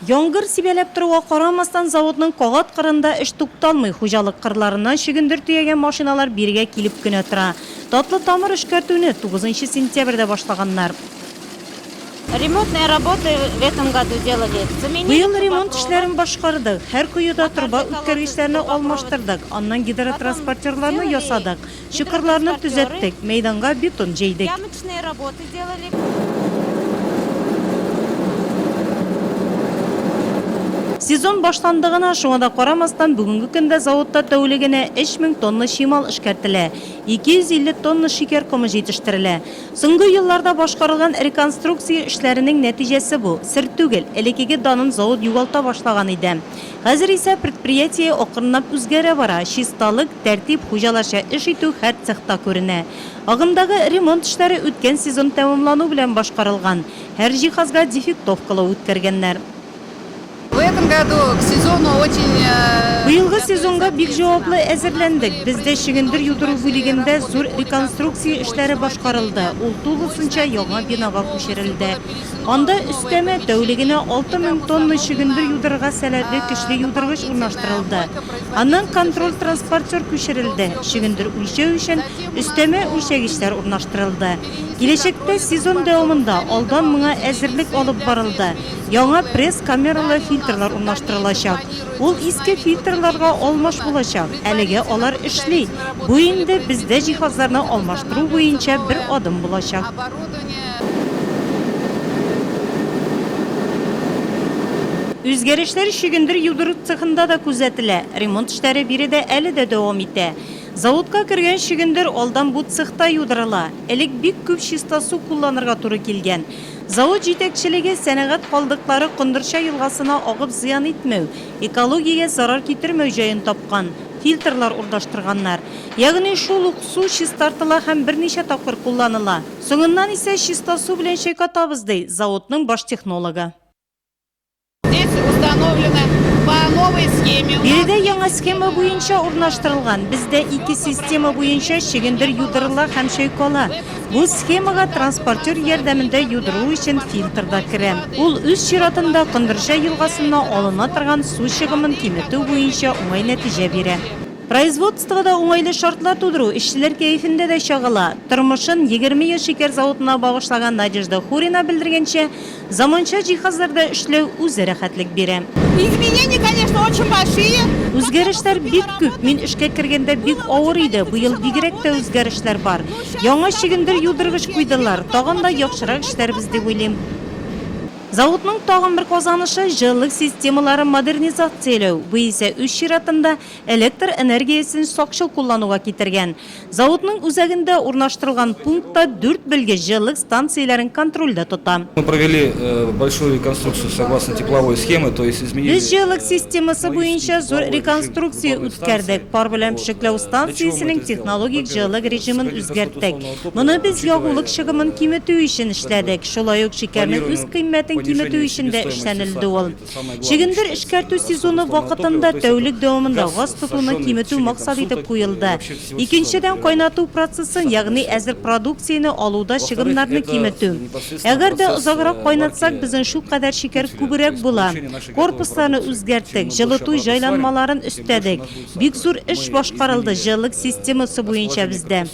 Яңгыр сибәләп торуга карамастан, заводның кагат кырында эш тукталмый, хуҗалык кырларыннан чөгендер төягән машиналар бирегә килеп кенә тора. Татлы тамыр эшкәртүне тугызынчы сентябрьдә башлаганнар. Ремонтные работы в этом году делали. Быел ремонт эшләрен башкардык. Һәр коеда торба үткәргечләрне алмаштырдык, аннан гидротранспортерларны ясадык. Чокырларны төзәттек, мәйданга бетон җәйдек. Сезон башланды гына, шуңа да карамастан, бүгенге көндә заводта тәүлегенә 3000 тонна чимал эшкәртелә, 250 тонна шикәр комы җитештерелә. Соңгы елларда башкарылган реконструкция эшләренең нәтиҗәсе бу. Сер түгел, элекеге данын завод югалта башлаган иде. Хәзер исә предприятие акрынлап үзгәрә бара, чисталык, тәртип, хуҗаларча эш итү һәр цехта күренә. Агымдагы ремонт эшләре үткән сезон тәмамлану белән башкарылган, һәр җиһазга дефектовкалау үткәргәннәр. В этом году к сезону очень. Быелгы сезонга бик җаваплы әзерләндек. Бездә чөгендер юдыру бүлегендә зур реконструкция эшләре башкарылды, ул тулысынча яңа бинага күчерелде. Анда өстәмә, тәүлегенә алты мең тонна чөгендер юдырырга сәләтле көчле юдыргыч урнаштырылды. Аннан контроль-транспортер күчерелде, чөгендер үлчәү өчен өстәмә үлчәгечләр урнаштырылды. Киләчәктә сезон дәвамында алдан моңа әзерлек алып барылды, яңа пресс-камералы фильтрлар урнаштырылачак. Ул иске фильтрларга алмаш булачак, әлегә алар эшли, бу инде бездә җиһазларны алмаштыру буенча бер адым булачак. Кечкенә. Үзгәрешләр чөгендер юдыру цехында да күзәтелә. Ремонт эшләре биредә әле дә дәвам итә. Заводка кергән чөгендер алдан бу цехта юдырыла. Элек бик күп чиста су кулланырга туры килгән. Завод җитәкчелеге сәнәгать калдыклары Кондырча елгасына агып зыян итмәү, экологиягә зарар китермәү җаен тапкан. Фильтрлар урнаштырганнар. Ягъни шул ук су чистартыла һәм берничә тапкыр кулланыла. Соңыннан исә чиста су белән чайкатабыз, ди заводның баш технологы. Биредә яңа схема буенча урнаштырылган. Бездә ике система буенча чөгендер юдырыла һәм чайкала. Бу схемага транспортер ярдәмендә юдыру өчен фильтр да керә. Ул үз чиратында Кондырҗа елгасынна алына торган су чыгымын киметү буенча уңай нәтиҗә бирә. Производствода уңайлы шартлар тудыру эшчеләр кәефендә дә чагыла. Тормышын егерме ел шикәр заводына багышлаган Надежда Хурина белдергәнчә, Заманча җиһазларда эшләү үзе рәхәтлек бирә. Изменения, конечно, очень большие. Үзгәрешләр бик күп. Мин эшкә кергәндә бик авыр иде, быел бигрәк тә үзгәрешләр бар. Яңа чөгендер юдыргыч куйдылар, тагын да яхшырак эшләрбез дип уйлыйм. Заводның тагын бер казанышы, җылылык системаларын модернизацияләү, бу исә үз чиратында электр энергиясен сакчыл куллануга китергән. Заводның үзәгендә урнаштырылган пункт та дүрт белгеч җылылык станцияләрен контрольдә тота. Мы провели большую реконструкцию согласно тепловой схемы, то есть изменили. Без җылылык системасы буенча зур реконструкция үткәрдек, пар белән пешекләү станциясенең технологик җылылык режимын үзгәрттек. Моны без ягулык чыгымын киметү өчен эшләдек, шулай ук шикәрнең үз кыйммәтен киметү өчен дә эшләнелде ул. Чөгендер эшкәртү сезоны вакытында тәүлек дәвамында газ тотуны киметү максат итеп куелды. Икенчедән, кайнату процессын, ягъни әзер продукцияне алуда чыгымнарны киметү. Әгәр дә озаграк кайнатсак, безнең шулкадәр шикәр күбрәк була. Корпусларны үзгәрттек, җылыту җайланмаларын өстәдек. Бик зур эш башкарылды җылылык системасы буенча бездә.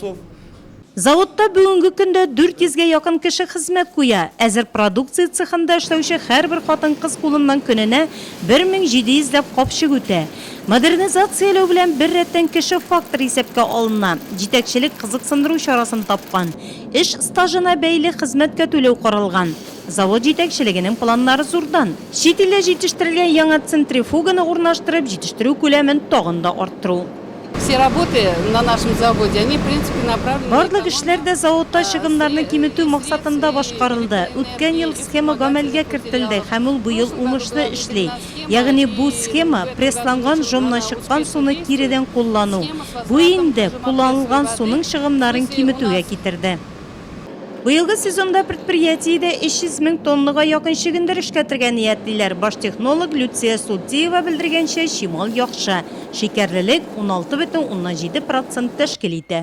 Заводта бүгенге көндә 400 гә якын кеше хезмәт куя, әзер продукция цехында эшләүче һәрбер хатын-кыз кулыннан көненә 1700 ләп капчык үтә. Модернизацияләү белән беррәттән кеше факторы исәпкә алына, җитәкчелек кызыксындыру чарасын тапкан, эш стажына бәйле хезмәткә түләү каралган. Завод җитәкчелегенең планнары зурдан. Чит илдә җитештерелгән яңа центрифуганы урнаштырып, җитештерү күләмен тагын да арттыру. Барлык эшләр дә заводта чыгымнарны киметү максатында башкарылды. Үткән ел схема гамәлгә кертелде һәм ул быел уңышлы эшли. Ягъни бу схема, прессланган жомнан чыккан суны киредән куллану. Бу инде кулланылган суның чыгымнарын киметүгә китерде. Быелгы сезонда предприятиедә 300 мең тоннага якын чөгендер эшкәртергә ниятлиләр. Баш технолог Люция Султиева белдергәнчә, чимал яхшы, шикәрлелек 16,7 процент тәшкил итә.